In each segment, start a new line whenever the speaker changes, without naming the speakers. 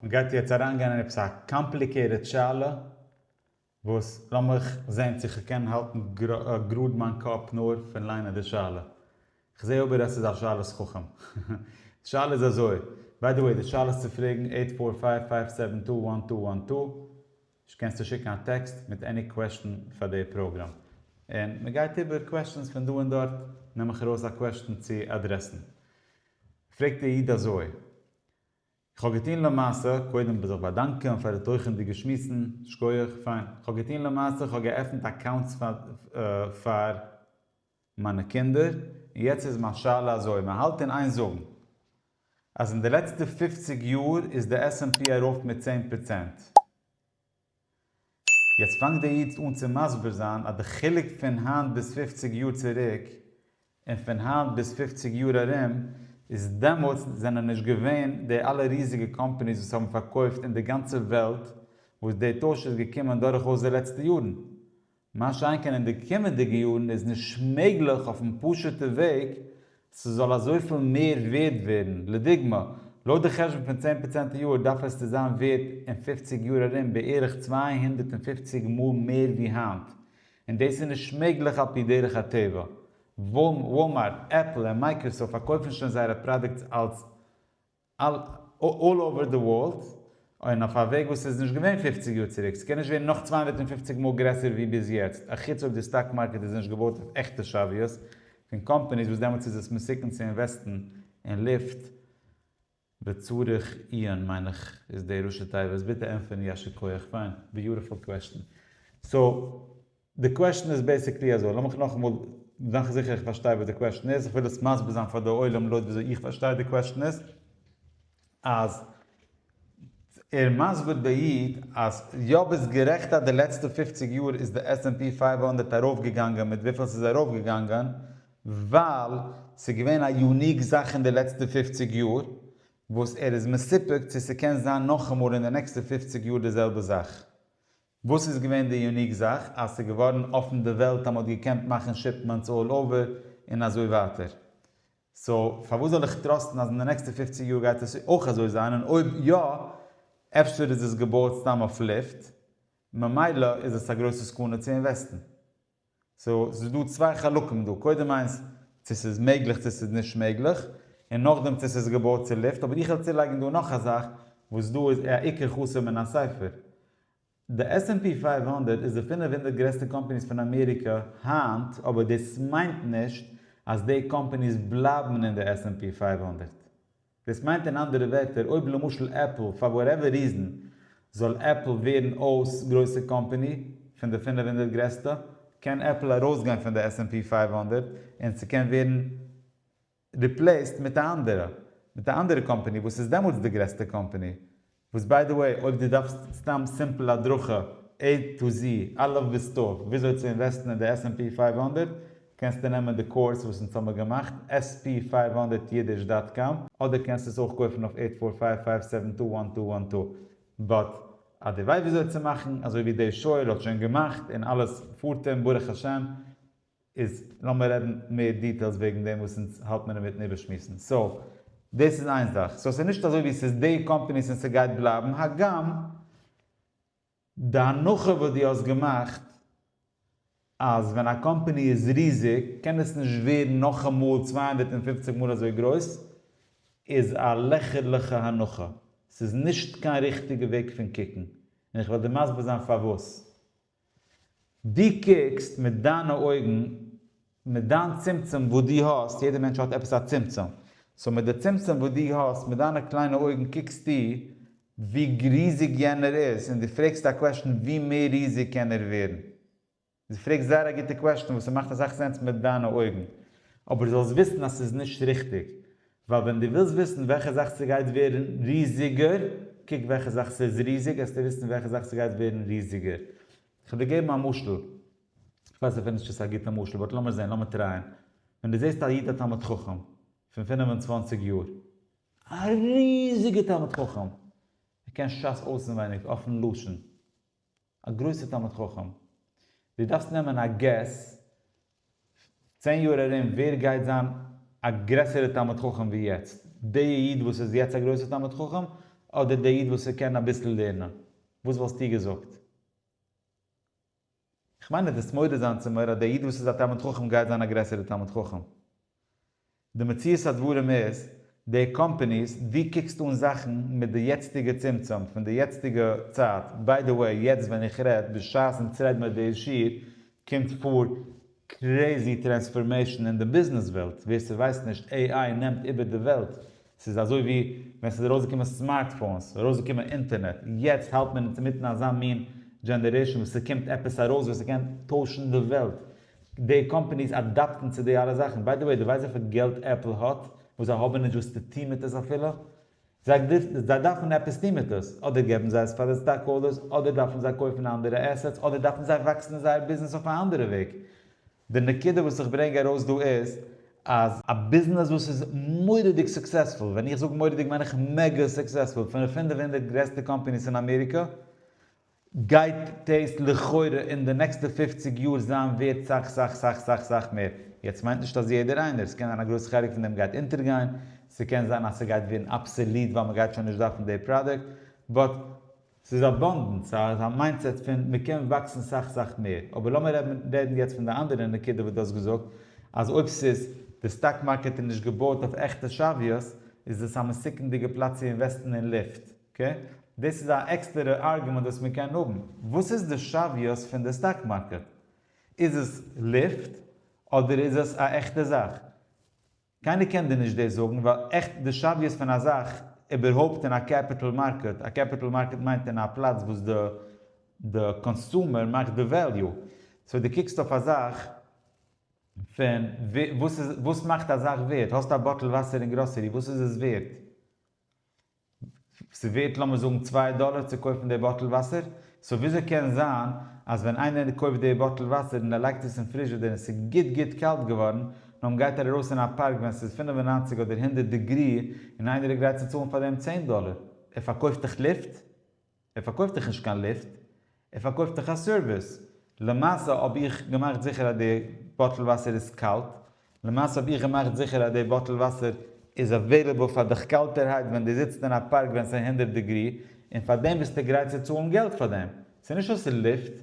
מען גייט יעצט אריינגיין אין עפעס א קאמפליקעיטעד שאלה, וואס לאמיך זען צו כ'קען האלטן גראד מיין קאפ נאר פון ליינען די שאלה. כ'זעה אבער אז ס'איז א שאלת חכם. די שאלה איז אזוי, ביי די וועי די שאלה איז צו פרעגן עיט פאר פייוו פייוו סעווען טו וואן טו וואן טו, נישט קענסטו שיקן א טעקסט מיט עני קוועשטן פאר די פראגראם. און מען גייט איבער קוועשטנס פון דא און דארט נעם איך ארויס א קוועשטן צו אדרעסן. פרעגט די איד אזוי. איך האב געטוהן למעשה, קודם ב זיך באדאנקען פאר די תוכן'דיגע שמועסן, שקויעך, פיין, איך האב געטוהן למעשה, איך האב געעפענט אקאונטס פאר מיינע קינדער, און יעצט איז מיין שאלה אזוי, מען האלט אין איין זאגן אז אין די לעצטע פופציג יאר איז די עס ענד פי ארויף מיט צען פראצענט, יעצט פאנגט דער איד אן צו מסביר זיין אז די חילוק פון היינט ביז פופציג יאר צוריק און פון היינט ביז פופציג יאר ארום איז דעמאלטס זענען נישט געווען די אלע ריזיגע קאמפאניס וואס האבן פארקויפט אין די גאנצע וועלט וואס די טויש איז געקומען דורכאויס די לעצטע יארן מה שאין כן אין די קומענדיגע יארן איז נישט מעגליך אויפן פשוטע וועג ס'זאל אזויפיל מער ווערד ווערן, לדוגמא, לויט די חשבון פון צען פראצענט א יאר דארף עס צו זיין ווערט אין פופציג יאר ארום בערך צוויי הונדערט און פופציג מאל מער ווי היינט, און דאס איז נישט מעגליך על פי דרך הטבע. וואלמארט, עפל און מייקראסאפט פארקויפן שוין זייערע פראדוקטס אלס אלל אווער די ווארלד, און אויף א וועג וואס איז נישט געווען פֿופֿציק יאר צוריק, ס'קען נישט ווערן נאך צוויי הונדערט און פֿופֿציק מאל גרעסער ווי ביז יעצט, אחוץ אויב די סטאק מארקעט איז נישט געבויט אויף עכטע שאוויא'ס פון קאמפאניס וואס דעמאלטס איז עס מסוכן צו אינוועסטן אין לופט וצריך עיון מיין איך איז די ראשי תיבות, ביטע ענטפערן יישר כח, פיין, ביוטעפול קוועשטען, סאו. די קוועשן איז בעסיקלי אזוי, לאמיך נאכאמאל מאכן זיכער איך פארשטיי וואס די קוועשן איז, איך וויל עס מסביר זיין פאר די עולם לויט וויאזוי איך פארשטיי די קוועשן איז, אז ער מסביר די איד אז יא ביסט גערעכט אז די לעצטע פופציג יאר איז די עס ענד פי פייוו הונדערט ארויפגעגאנגען מיט וויפיל ס'איז ארויפגעגאנגען, ווייל ס'איז געווען א יוניק זאך אין די לעצטע פופציג יאר, וואס ער איז מסופק צו ס'קען זיין נאכאמאל אין די נעקסטע פופציג יאר די זעלבע זאך. וואס איז געווען די יוניק זאך אז ס'איז געווארן אפן די וועלט אז מ'האט געקענט מאכן שיפמענטס אלל אווער און אזוי ווייטער? סאו פארוואס זאל איך טראסטן אז אין די נעקסטע פופציג יאר גייט עס אויך אזוי זיין און אויב יא אפשר איז עס געבויעט סתם אויף לופט ממילא איז עס א גרויסע סכנה צו אינוועסטן. סאו ס'איז דא צוויי חלקים דא, קודם איינס צו ס'איז מעגליך צו ס'איז נישט מעגליך, און נאכדעם צו ס'איז געבויט צו לופט, אבער איך וויל צולייגן דא נאך א זאך וואס דא איז א עיקר חסר מן הספר. די עס ענד פי פֿינף הונדערט איז די פֿינף הונדערט גרעסטע קאמפאניס פון אמעריקע היינט, אבער דאס מיינט נישט אז די קאמפאניס בלייבן אין די עס ענד פי פֿינף הונדערט. דאס מיינט אין אנדערע ווערטער אויב למשל עפל פאר וואטעווער ריזען זאל עפל ווערן אויס גרויסע קאמפעני פון די פֿינף הונדערט גרעסטע קען עפל ארויסגיין פון די עס ענד פי פֿינף הונדערט און ס'קען ווערן ריפלעיסט מיט א אנדערע מיט א אנדערע קאמפעני וואס איז דעמאלטס די גרעסטע קאמפעני וואס ביי די וועי אויב דו דארפסט סתם סימפל הדרכה עי טו זי, א' ביז ת', וויאזוי צו אינוועסטן אין די עס ענד פי פֿינף הונדערט, קענסטו נעמען די קורס וואס אונז האמיר געמאכט, עס פי פֿינף הונדערט יידיש דאט קאם, אדער קענסטו עס אויך קויפן אויף עיט פאר פייוו פייוו סעווען טו וואן טו וואן טו. באט אז דו ווייסט וויאזוי צו מאכן, אזוי ווי דעי שויער האט שוין געמאכט און אלעס פארט אים ברוך השם, איז לאמיר רעדן מער דיטעילס וועגן דעם וואס אונז האלט מיר אינמיטן איבערשמועסן. סאו דאס איז איין זאך. סאו ס'איז נישט אזוי ווי ס'איז די קאמפאניס און ס'גייט בלייבן. הגם די הנחה וואס דו האסט געמאכט אז ווען א קאמפאני איז ריזיג קען עס נישט ווערן נאכאמאל צוויי הונדערט און פֿופֿציק מאל אזוי גרויס איז א לעכערליכע הנחה. ס'איז נישט קיין ריכטיגע וועג פון קוקן. און איך וועל דיר מסביר זיין פארוואס. דו קוקסט מיט דיינע אויגן, מיט דיין צמצום וואס דו האסט, יעדער מענטש האט עפעס א צמצום, סאו מיט די צמצום וואס דו האסט, מיט דיינע קליינע אויגן קוקסטו ווי ריזיג יענער איז, און דו פרעגסט א קוועשטן ווי מער ריזיג קען ער ווערן. דו פרעגסט זייער א גוטע קוועשטן וואס ס'מאכט אסאך סענס מיט דיינע אויגן, אבער זאלסט וויסן אז ס'איז נישט ריכטיג, ווייל ווען דו ווילסט וויסן וועלכע זאך ס'גייט ווערן ריזיגער, קוק וועלכע זאך ס'איז ריזיג, העסטו וויסן וועלכע זאך ס'גייט ווערן ריזיגער. כ'וועל דיר געבן א משל, כ'ווייס אפילו נישט צו ס'איז א גוטע משל, באט לאמיר זען, לאמיר טרייען. ווען דו זעסט א איד א תלמיד חכם, פון פינף און צוואנציג יאר, א ריזיגער תלמיד חכם, ער קען שס אויסענווייניג, אפן לשון, א גרויסע תלמיד חכם, דו דארפסט נעמען א געס, צען יאר ארום ווער גייט זיין א גרעסערע תלמיד חכם ווי יעצט, די איד וואס איז יעצט א גרויסע תלמיד חכם, אדער די איד וואס איז קען אביסל לערנען, וואס וואלסטו געזאגט? איך מיין דו דארפסט מודה זיין צום מוהרא די איד וואס איז א תלמיד חכם גייט זיין א גרעסערע תלמיד חכם. די מציאות הדברים איז, די קאמפעניס, דו קוקסט אן זאכן מיט די יעצטיגע צמצום פון די יעצטיגע צייט, ביי די וועי יעצט ווען איך רעד, בשעת אונז רעדן אויף די שיעור, קומט פאר קרעזי טרענספארמעישן אין די ביזנעס וועלט, ווער ס'ווייסט נישט, עי איי נעמט איבער די וועלט, ס'איז אזוי ווי ווען ס'איז ארויסגעקומען סמארטפאונס, ארויסגעקומען אינטערנעט, יעצט האלט מען אינמיטן אזא מין דזשענערעישן וואס ס'קומט עפעס ארויס וואס ס'קען טוישן די וועלט, די קאמפעניס אדאפטן צו די אלע זאכן, ביי דע וועי דו ווייסט וויפיל געלט עפל האט וואס זיי האבן נישט וואס צו טוהן מיט עס אפילו? זיי דארפן עפעס טוהן מיט עס, אדער געבן זיי עס פאר די סטאק האלדערס, אדער דארפן זיי קויפן אנדערע עסעטס, אדער דארפן זיי וואקסן זייער ביזנעס אויף א אנדערע וועג. די נקודה וואס איך ברענג ארויס דא איז אז. א ביזנעס וואס איז מורא'דיג סוקסעספול, ווען איך זאג מורא'דיג מיין איך מעגא סוקסעספול, פון די פֿינף הונדערט גרעסטע קאמפעניס אין אמעריקא, גייט דעיס לכאורה אין די נעקסטע פֿופֿציק יאר זיין ווערט סאך סאך סאך סאך סאך מער, יעצט מיינט נישט אז יעדער איינער, ס'קען זיין א גרויסע חלק פון דעם גייט אינטערגייין, ס'קען זיין אז ס'גייט ווערן אבסעליט ווייל מ'גייט שוין נישט דארפן די פראדוקט, באט. ס'איז אבאנדענס, ס'איז א מיינדסעט פון מ'קען וואקסן סאך סאך מער, אבער לאמיר רעדן רעדן יעצט פון די אנדערע נקודה וואס דו האסט געזאגט אז אויב ס'איז די סטאק מארקעט איז נישט געבויט אויף עכטע שוויות איז עס א מסוכנ'דיגע פלאץ צו אינוועסטן אין לופט, אקעי, דאס איז א עקסטערע ארגומענט וואס מען קען האבן. וואס איז די שוויות פון די סטאק מארקעט? איז עס לופט אדער איז עס א עכטע זאך? קיינער קען דיר נישט דאס זאגן ווייל עכט די שוויות פון א זאך איבערהויפט אין א קעפיטעל מארקעט, א קעפיטעל מארקעט מיינט אין א פלאץ וואס די די קאנסומער מאכט די וועליו. סאו די קוקסט אויף א זאך פון וואס איז וואס מאכט א זאך ווערט? האסט א באטל וואסער אין גראסערי וואס איז עס ווערט? ס'ווערט לאמיר זאגן צוויי דאלער צו קויפן די באטל וואסער, סאו וויאזוי קען זיין אז ווען איינער קויפט די באטל וואסער און ער לייגט עס אין פריזשעדער און ס'איז גוט גוט קאלט געווארן, נאכדעם גייט ער ארויס אין א פארק ווען ס'איז פֿינף און נײַנציק אדער הונדערט דעגרי און איינער איז גרייט צו צאלן פאר דעם צען דאלער? ער פארקויפט דאך לופט? ער פארקויפט דיך נישט קיין ליפט, ער פארקויפט דיך א סערוויס, למעשה האב איך געמאכט זיכער אז די באטל וואסער איז קאלט, למעשה האב איך געמאכט זיכער אז די באטל וואסער איז אוועילעבל פאר דיך קאלטערהייט ווען דו זיצט אין א פארק ווען ס'איז הונדערט דעגרי, און פאר דעם ביסטו גרייט צו צאלן געלט פאר דעם, ס'איז נישט אז ס'איז ליפט.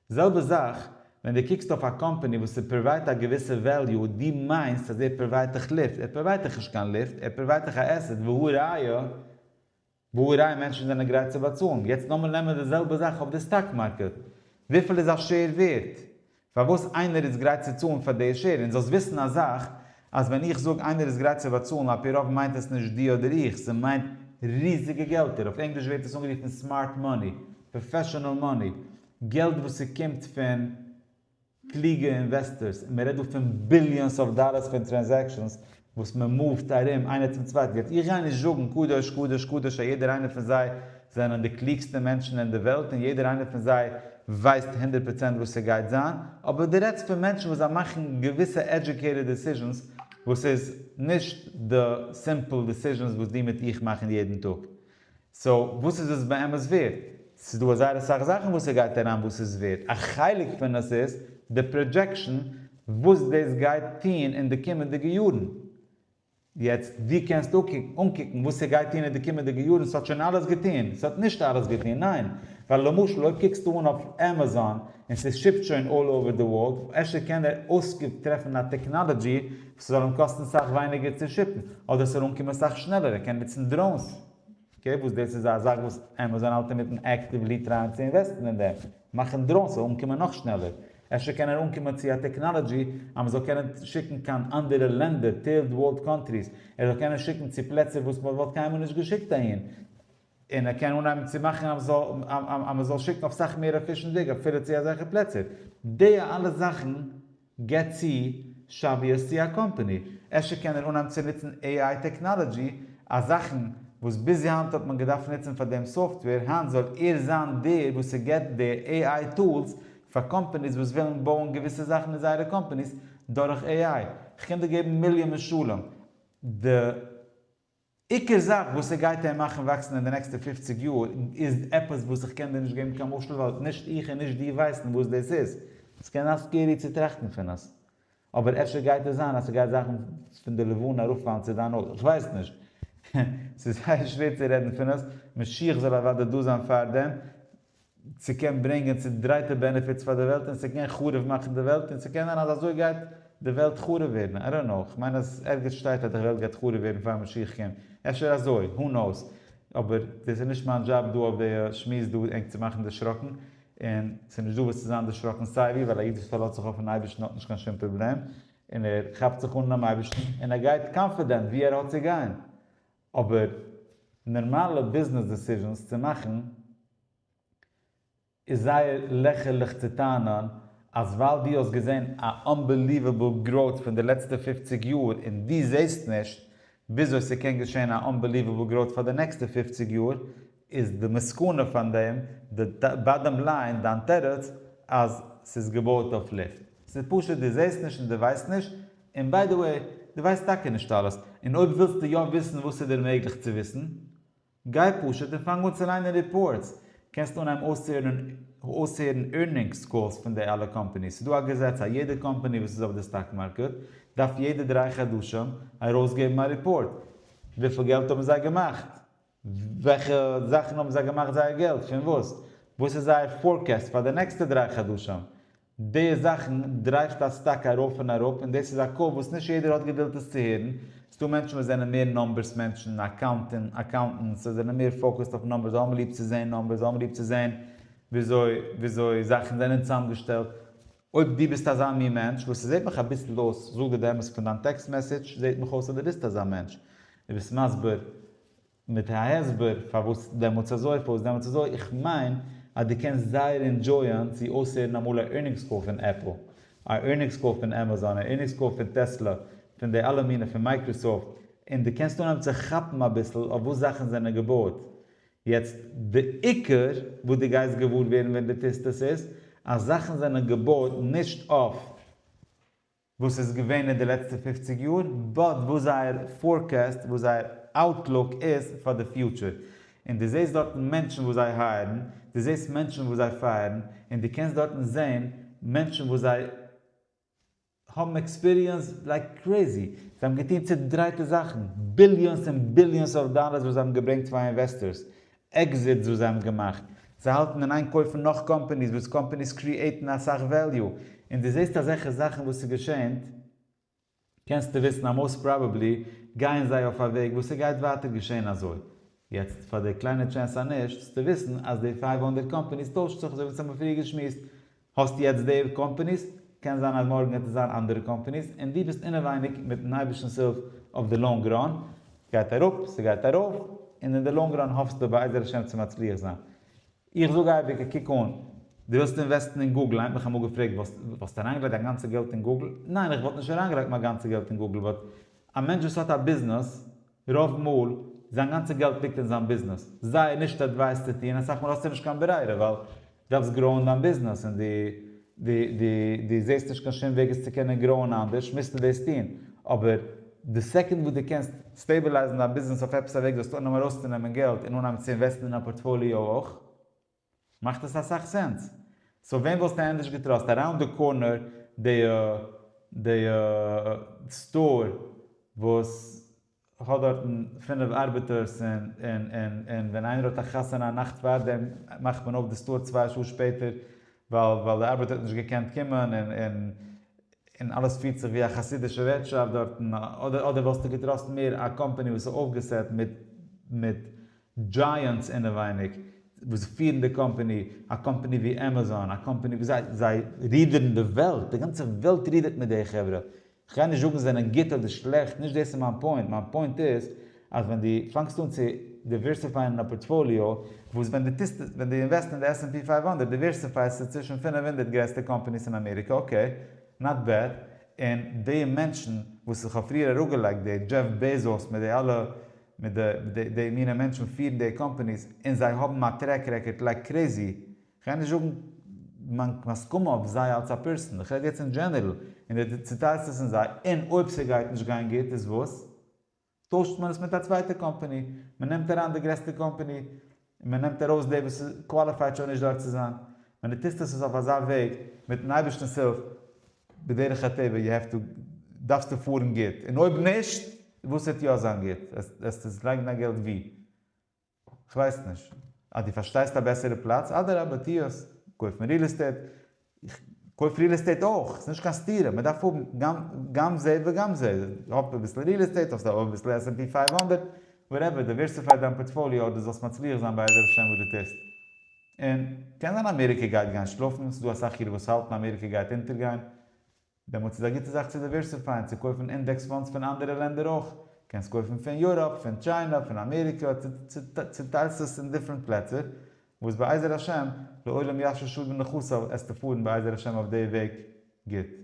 זעלבע זאך ווען דו קוקסט אויף א קאמפאני וואס ער פראוויידט א געוויסע וועליו, דו מיינסט אז ער פראוויידט דיך ליפט, ער פראוויידט דיך נישט קיין ליפט, ער פראוויידט דיך א עסעט, והא ראיה, וואו רייע מענטשן זענען גרייט צו באצאלן. יעצט לאמיר נעמען די זעלבע זאך אויף די סטאק מארקעט. וויפיל איז א שעיר ווערט? פארוואס איינער איז גרייט צו צאלן פאר די שעיר? און זאלסט וויסן א זאך, אז ווען איך זאג איינער איז גרייט צו באצאלן על פי רוב מיינט עס נישט דו אדער איך, ס'מיינט ריזיגע געלטער, אויף ענגליש ווערט עס אנגערופן סמארט מאני, פראפעשאנעל מאני, געלט וואס ס'קומט פון קלוגע אינוועסטארס, און מען רעדט דא פון ביליאנס אויף דאלארס פון טרענזעקשאנס וואס מען מאווד ארום איינער צום צווייטן, יעצט איך גיי נישט זאגן קדוש קדוש קדוש אז יעדער איינער פון זיי זענען די קלוגסטע מענטשן אין די וועלט און יעדער איינער פון זיי ווייסט הונדערט פראצענט וואס ס'גייט זיין, אבער דו רעדסט פון מענטשן וואס זיי מאכן געוויסע עדזשוקעיטעד דעסיזשענס וואס איז נישט די סימפל דעסיזשענס וואס דו מיט איך מאכן יעדן טאג. סאו וואס איז עס באמת ווערד? ס'איז דא זייער אסאך זאכן וואס ס'גייט אריין וואס איז ווערד, א חלק פון עס איז די פראדזשעקשן וואס דאס גייט טון אין די קומענדיגע יארן, יעצט ווי קענסטו אנקוקן וואס ס'גייט טון אין די קומענדיגע יארן, ס'האט שוין אלעס געטון, ס'האט נישט אלעס געטון, ניין, ווייל למשל אויב קוקסטו אן אויף עמעזאן און ס'שיפט שוין אלל אווער די ווארלד, אפשר קען ער אויסקוק טרעפן א טעקנאלעדזשי ס'זאל אים קאסטן סאך ווייניגער צו שיפן, אדער ס'זאל אנקומען סאך שנעלער, ער קען נוצן דראונס. אקעי, וואס דאס איז א זאך וואס עמעזאן האלט אינמיטן עקטיוולי טרייען צו אינוועסטן אין דעם, מאכן דראונס זאל אנקומען נאך שנעלער. אפשר קען ער אנקומען צו א טעקנאלעדזשי אז מ'זאל קענען שיקן קיין אנדערע לענדער, טירד ווארלד קאנטריס, ער זאל קענען שיקן צו פלעצער וואס מ'וואלט קיינמאל נישט געשיקט אהין, און ער קען אנהייבן צו מאכן אז מ'זאל אז מ'זאל שיקן אויף סאך מער אקעישאנדיג אפילו צו אזעלכע פלעצער. די אלע זאכן געט צו שאביאס צו א קאמפאני. אפשר קען ער אנהייבן צו נוצן AI טעקנאלעדזשי אז זאכן וואס ביז היינט האט מען געדארפט נוצן פאר דעם סאפטוועיר, היינט זאל ער זיין דער וואס ער געט די AI טולס פאר קאמפאניס וואס ווילן בויען געוויסע זאכן אין זייערע קאמפאניס דורך AI. כ'קען דיר געבן מיליאן משלים. די עיקר זאך וואס ס'גייט עהם מאכן וואקסן אין די נעקסטע פופציג יאר איז עפעס וואס איך קען דיר נישט געבן קיין משל ווייל נישט איך און נישט דו ווייסן וואס דאס איז, ס'קען זיין סקערי צו טראכטן פון עס, אבער אפשר גייט עס זיין אז ס'גייט זאכן פון די לבנה ארויפפאלן צו דיין אויג, כ'ווייס נישט, ס'איז זייער שווער צו רעדן פון עס, משיח זאל אוודאי דא זיין פארדעם, ס'קען ברענגען צודרייטע בענעפיטס פאר די וועלט און ס'קען חרוב מאכן די וועלט און ס'קען זיין אז אזוי גייט די וועלט חרוב ווערן, איי דאנט נאו, כ'מיין אז ערגעץ שטייט אז די וועלט גייט חרוב ווערן פאר משיח קומט, אפשר אזוי, הו נאוס, אבער דאס איז נישט מיין דזשאב דא אויף די שמועס דא ענק צו מאכן דערשראקן, און ס'איז נישט דא וואס צו זיין דערשראקן סיי ווי, ווייל א איד וואס פארלאזט זיך אויפן אייבערשטן האט נישט קיין שום פראבלעם, און ער כאפט זיך אן דעם אייבערשטן און ער גייט קאנפידענט וואו ער האט צו גיין. אבער נארמאלע ביזנעס דעסיזשענס צו מאכן איז זייער לעכערליך צו טענה'ן אז ווייל דו האסט געזען א אנבעליוועבל גראוט פון די לעצטע פופציג יאר און דו זעסט נישט וויאזוי ס'קען געשען א אנבעליוועבל גראוט פאר די נעקסטע פופציג יאר איז די מסקנא פון דעם, די באדאם ליין, דיין תירוץ אז ס'איז געבויט אויף לופט? ס'איז פשוט דו זעסט נישט און דו ווייסט נישט, און ביי די וועי, דו ווייסט טאקע נישט אלעס, און אויב ווילסטו יא וויסן וואס איז דיר מעגליך צו וויסן, גיי פשוט און פאנג אן צו ליינען ריפארטס, קענסט אנהייבן אויסהערן אויסהערן ערנינגס קאלס פון די אלע קאמפאניס, ס'איז דא א געזעץ אז יעדע קאמפאני וואס איז אויף די סטאק מארקעט דארף יעדע דריי חדשים ארויסגעבן א ריפארט וויפיל געלט האבן זיי געמאכט. וועלכע זאכן האבן זיי געמאכט זייער געלט? פון וואס? וואס איז זייער פארקעסט פאר די נעקסטע דריי חדשים? די זאכן דרייווט א סטאק ארויף און אראפ און דאס איז א קול וואס נישט יעדער האט געדולד עס צו הערן. ס'איז דא מענטשן וואס זענען מער נומבערס מענטשן, אקאונטענטס, זיי זענען מער פאוקעסד אויף נומבערס, זיי האבן ליב צו זען נומבערס, זיי האבן ליב צו זען וויאזוי זאכן זענען צוזאמגעשטעלט. אויב דו ביסט אזא מין מענטש, וואס ס'זעט מיך אביסל אויס, זאג דיר די אמת פון דיין טעקסט מעסעדזש זעט מיך אויס אז דו ביסט אזא מענטש, דו ביסט מסביר מיט א הסבר פארוואס דעמאלטס אזוי פארוואס דעמאלטס אזוי, איך מיין אז דו קענסט זייער אינדזשויען צו אויסהערן אמאל א ערנינגס קאל פון עפל, א ערנינגס קאל פון עמעזאן, א ערנינגס קאל פון טעסלא, פון די אלע מינע, פון מייקראסאפט, און דו קענסט אנהייבן צו כאפן אביסל אויף וואס זאכן זענען געבויעט, יעצט די עיקר וואס דו גייסט געוואר ווערן ווען דו טוסט עס איז אז זאכן זענען געבויט נישט אויף וואס ס'איז געווען אין די לעצטע פופציג יאר באט וואס זייער פארקעסט וואס זייער אוטלוק איז פאר די פיוטשער און דו זעסט דארטן מענטשן וואס זיי הייערן דו זעסט מענטשן וואס זיי פייערן און דו קענסט דארטן זען מענטשן וואס זיי האבן עקספיריענס לייק קרעזי, זיי האבן געטון צודרייטע זאכן, ביליאנס און ביליאנס אויף דאלערס וואס זיי האבן געברענגט פאר אינוועסטארס, עקזיטס וואס זיי האבן געמאכט, זיי האלטן אין איין קויפן נאך קאמפעניס וואס קאמפעניס קריעטן אסאך וועליו, און דו זעסט אזעלכע זאכן וואס איז געשען, קענסטו וויסן אז מאוסט פראבעבלי גייען זיי אויף א וועג וואס ס'גייט ווייטער געשען אזוי. יעצט פאר די קליינע טשענס אז נישט, זאלסטו וויסן אז די פייוו הונדערט קאמפעניס טוישט זיך אזוי ווי אונז האבן פריער געשמועסט, האסט יעצט די קאמפעניס, קען זיין אז מארגן וועט עס זיין אנדערע קאמפעניס, און דו ביסט אינעווייניג מיטן אייבערשטנ'ס הילף אויף די לאנג ראן, ס'גייט אראפ, ס'גייט ארויף, און אין די לאנג ראן האפסטו בעזר השם צו מצליח זיין. איך זאג אייביג, קוק אן, דו ווילסט אינוועסטן אין גוגל, היינט מיך אמאל געפרעגט, וואלסטו אריינגעלייגט דיין גאנצע געלט אין גוגל? ניין, איך וואלט נישט אריינגעלייגט מיין גאנצע געלט אין גוגל, באט א מענטש וואס האט א ביזנעס, רוב מאל, זיין גאנצע געלט ליגט אין זיין ביזנעס. זייער נישט עדווייס צו טון, אסאך מאל האסטו נישט קיין ברירה ווייל דו דארפסט גראוען דיין ביזנעס און דו דו דו דו זעסט נישט קיין שום וועג עס צו קענען גראוען אנדערש מוזטו דאס טון, אבער די סעקונד וואס דו קענסט סטעבילייזן דיין ביזנעס אויף עפעס א וועג זאלסטו אנהייבן ארויסצונעמען געלט און אנהייבן צו אינוועסטן אין א פארטפאליאו אויך. מאכט עס אסאך סענס. סאו וועם וואלסטו ענדערש געטראסט? אראונד די קארנער די די סטאר וואס האט דארטן פינף ארבעטערס און און און און ווען איינער האט א חתונה א נאכט פארדעם מאכט מען אויף די סטאר צוויי שעה שפעטער ווייל ווייל די ארבעטער האט נישט געקענט קומען און און און אלעס פירט זיך ווי א חסידישע ווערטשאפט דארטן אדער אדער וואלסטו געטראסט מער א קאמפעני וואס איז אויפגעסעט מיט מיט דזשייענטס אינעווייניג וואס פירן די קאמפאני, א קאמפאני ווי עמעזאן, א קאמפאני ווי זיי, זיי רידערן די וועלט, די גאנצע וועלט רידערט מיט די חברה, כ'גיי נישט זאגן זיי זענען גוט אדער שלעכט, נישט דאס איז מיין פוינט, מיין פוינט איז אז ווען דו פאנגסט אן צו דיווערסיפייען אין א פארטפאליאו, וואס ווען דו טוסט, ווען דו אינוועסט אין די עס ענד פי פֿינף הונדערט דיווערסיפייסטו צווישן פֿינף הונדערט גרעסטע קאמפאניס אין אמעריקע, אקעי, נאט בעד, און די מענטשן וואס איך האב פריער אראפגעלייגט, די דזשעף בעזאס מיט די אלע מיט די די די מינע מענטשן פירן די קאמפעניס און זיי האבן א טרעק רעקארד לייק קרעזי, כ'גיי נישט זאגן מיין הסכמה אויף זיי אלס א פערסאן, כ'רעד יעצט אין דזשענערל, און די די צוטיילסט עס אין זיי, און אויב ס'גייט נישט גיין גוט איז וואס? טוישט מען עס מיט א צווייטע קאמפעני, מ'נעמט אריין די גרעסטע קאמפעני, און מען נעמט ארויס דער וואס קוואליפייט שוין נישט דארט צו זיין, ווען דו טוסט עס אויף אזא וועג, מיטן אייבערשטנ'ס הילף, בדרך הטבע יו העוו טו, דארפסטו פארן גוט, און אויב נישט, וואס וועט יא זיין גוט? וועסטו עס לייגן דיין געלט ווי? כ'ווייס נישט. אז דו פארשטייסט א בעסערע פלאץ, אדרבה, טו עס, קויפן ריעל עסטעיט, איך קויף ריעל עסטעיט אויך, ס'נישט קיין סתירה, מ'דארף האבן גאם גם זה וגם זה, האב אביסל ריעל עסטעיט, האסט אויך אביסל עס ענד פי פייוו הונדערט, וואטעווער, דייווערסיפיי דיין פארטפאליאו אדער זאלסט מצליח זיין בעזר השם וואס דו טוסט. און קען זיין אמעריקע גייט גיין שלאפן, ס'איז דא אסאך אידן וואס האלטן אמעריקע גייט אונטערגיין, דעמאלטס איז א גוטע זאך צו דיווערסיפייען צו קויפן אינדעקס פאנדס פון אנדערע לענדער אויך, קענסט קויפן פון יוראפ, פון טשיינע, פון אמעריקע, צוטיילסט עס אין דיפרענט פלעצער, וואס בעזר השם, לעולם ישוב שוב בנכסיו, עסטו פארן בעזר השם אויף די וועג גוט.